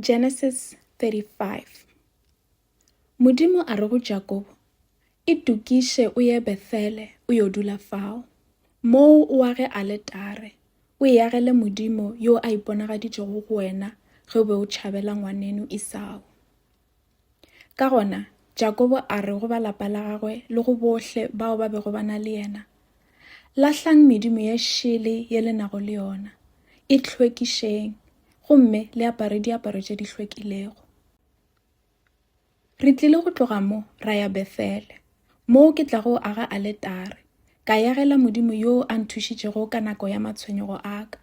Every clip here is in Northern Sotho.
Genesis 35 Modimo a re go Jakobo, Itokiše o ye Bethele o yo dula fao, moo o age aletare, o e agele Modimo yo a iponagaditšego go wena ge o be o tšhabela ngwaneno Isao. Ka gona, Jakobo a re go ba lapa la gagwe le go bohle bao ba bego ba na le yena, Lahlang medimo ye šele ye le nago le yona, e hlwekišeng gomme le apare diaparo tše di hlwekilego. Re tlile go tloga mo ra ya Bethele, moo ke tlago go aga aletare, ka yagela Modimo yo a nthušitšego ka nako ya matshwenyego a ka,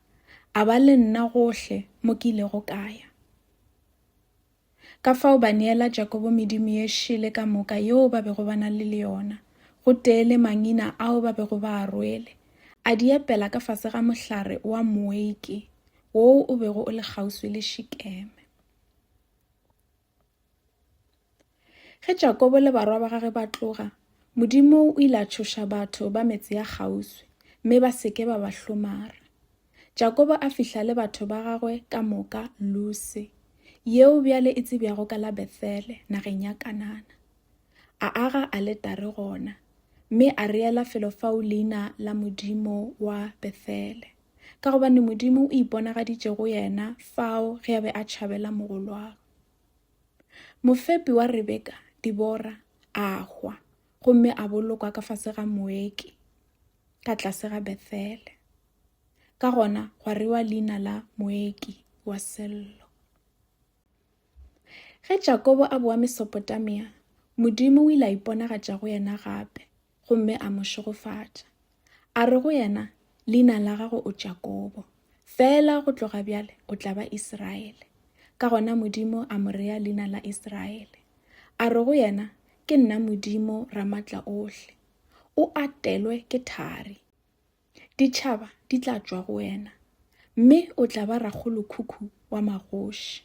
a ba le nna gohle mo ke ilego ka ya. Ka fao ba neela Jakobo medimo ye šele ka moka yeo ba bego ba na le le yona, gotee le mangina ao ba bego ba a rwele, a di epela ka fase ga mohlare wa moeke woo o bego o le kgauswi le Šikeme. Ge Jakobo le barwa ba gage ba tloga, Modimo o ile a tšhoša batho ba metse ya kgauswi, mme ba se ke ba ba hlomara. Jakobo a fihla le batho ba gagwe ka moka Luse, yeo bjale e tsebjago ka la Bethele, nageng ya Kanana. A aga aletare gona, mme a reela felo fao leina la modimo wa Bethele, ka gobane Modimo o iponagaditše go yena fao ge a be a tšhabela mogolwagwe. Mofepi wa Rebeka, Dibora, a hwa gomme a bolokwa ka fase ga moeki ka tlase ga Bethele. Ka gona gwa rewa leina la moeki wa sello. Ge Jakobo a boa Mesopotamia, Modimo o ile a iponagatša go yena gape gomme a mo šegofatša. A re go yena, Leina la gago o Jakobo, fela go tloga bjale o tla ba Iseraele. Ka gona Modimo a mo rea leina la Iseraele. A re go yena, Ke nna Modimo Ramatla ohle. O atelwe ke thari. Ditšhaba di tla tšwa go wena, mme o tla ba rakgolokhukhu wa magoši.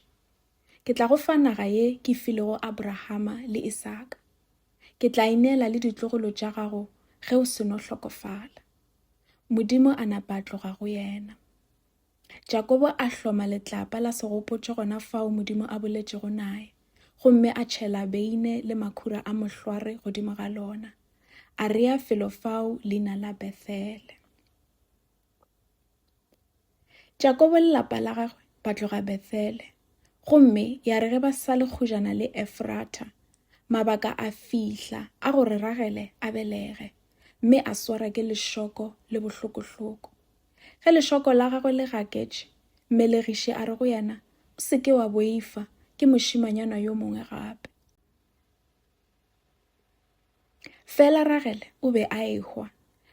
Ke tla go fa naga ye ke filego Abrahama le Isaka. Ke tla ineela le ditlogolo tša gago ge o seno hlokofala. Modimo a napa a tloga go yena. Jakobo a hloma letlapa la segopotšo gona fao Modimo a boletšego naye, gomme a tšhela beine le makhura a mohlware godimo ga lona. A rea felo fao leina la Bethele. Jakobo le lapa la gagwe ba tloga Bethele, gomme ya re ge ba sa le kgojana le Efrata, mabaka a fihla a gore Ragele a belege, mme a swara ke lešoko le bohlokohloko. Ge lešoko la gagwe le gaketše, mmelegiši a re go yena, O se ke wa boifa ke mošimanyana yo mongwe gape. Fela Ragele o be a ehwa,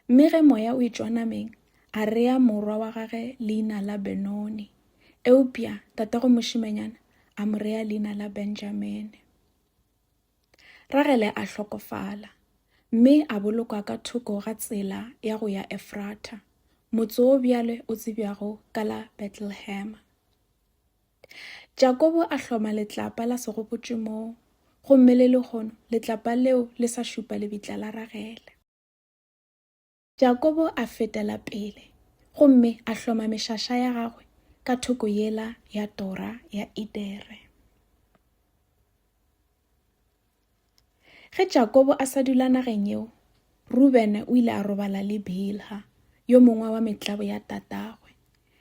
mme ge moya o etšwa nameng, a rea morwa wa gage leina la Benoni, eupša tatago mošimanyana a mo rea leina la Benjamine. Ragele a hlokofala, mme a bolokwa ka thoko ga tsela ya go ya Efratha, motse wo bjale o tsebjago ka la Betlehema. Jakobo a hloma letlapa la segopotšo moo, gomme le lehono letlapa leo le sa šupa lebitla la Ragele. Jakobo a fetela pele gomme a hloma mešaša ya gagwe ka thoko yela ya tora ya Edere. Ge Jakobo a sa dula nageng yeo, Rubene o ile a robala le Bilha, yo mongwe wa metlabo ya tatagwe.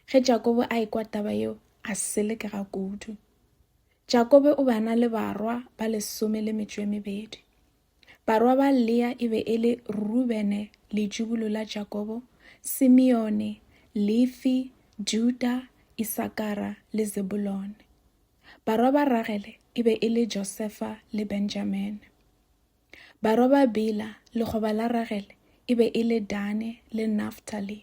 Ge Jakobo a ekwa taba yeo, a selekega kudu. Jakobo o bana le barwa ba lesome le metšo e mebedi. Barwa ba Lea e be e le Rubene, letšubulo la Jakobo, Simeone, Lefi, Juda, Isakara le Zebulone. Barwa ba Ragele e be e le Josefa le Benjamine. Barwa ba Bila, lekgoba la Ragele, e be e le Dane le Naftali.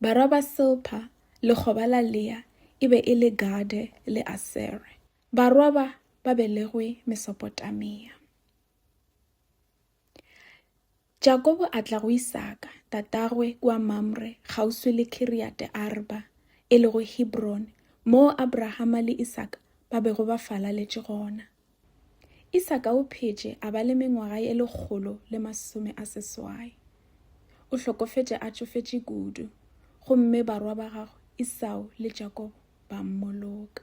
Barwa ba Silpa, lekgoba la Lea, e be e le Gade le Asere. Barwa ba ba belegwe Mesopotamia. Jakobo a tla go Isaka, tatagwe, kua Mamre, kgauswi le Kiriate-arba, e lego Hebron, moo Abrahama le Isaka ba bego ba falaletše gona. Isaka o phetše a ba le mengwaga ye lekgolo le masome a seswai. O hlokofetše a tšofetše kudu, gomme barwa ba gagwe Isao le Jakobo ba mmoloka.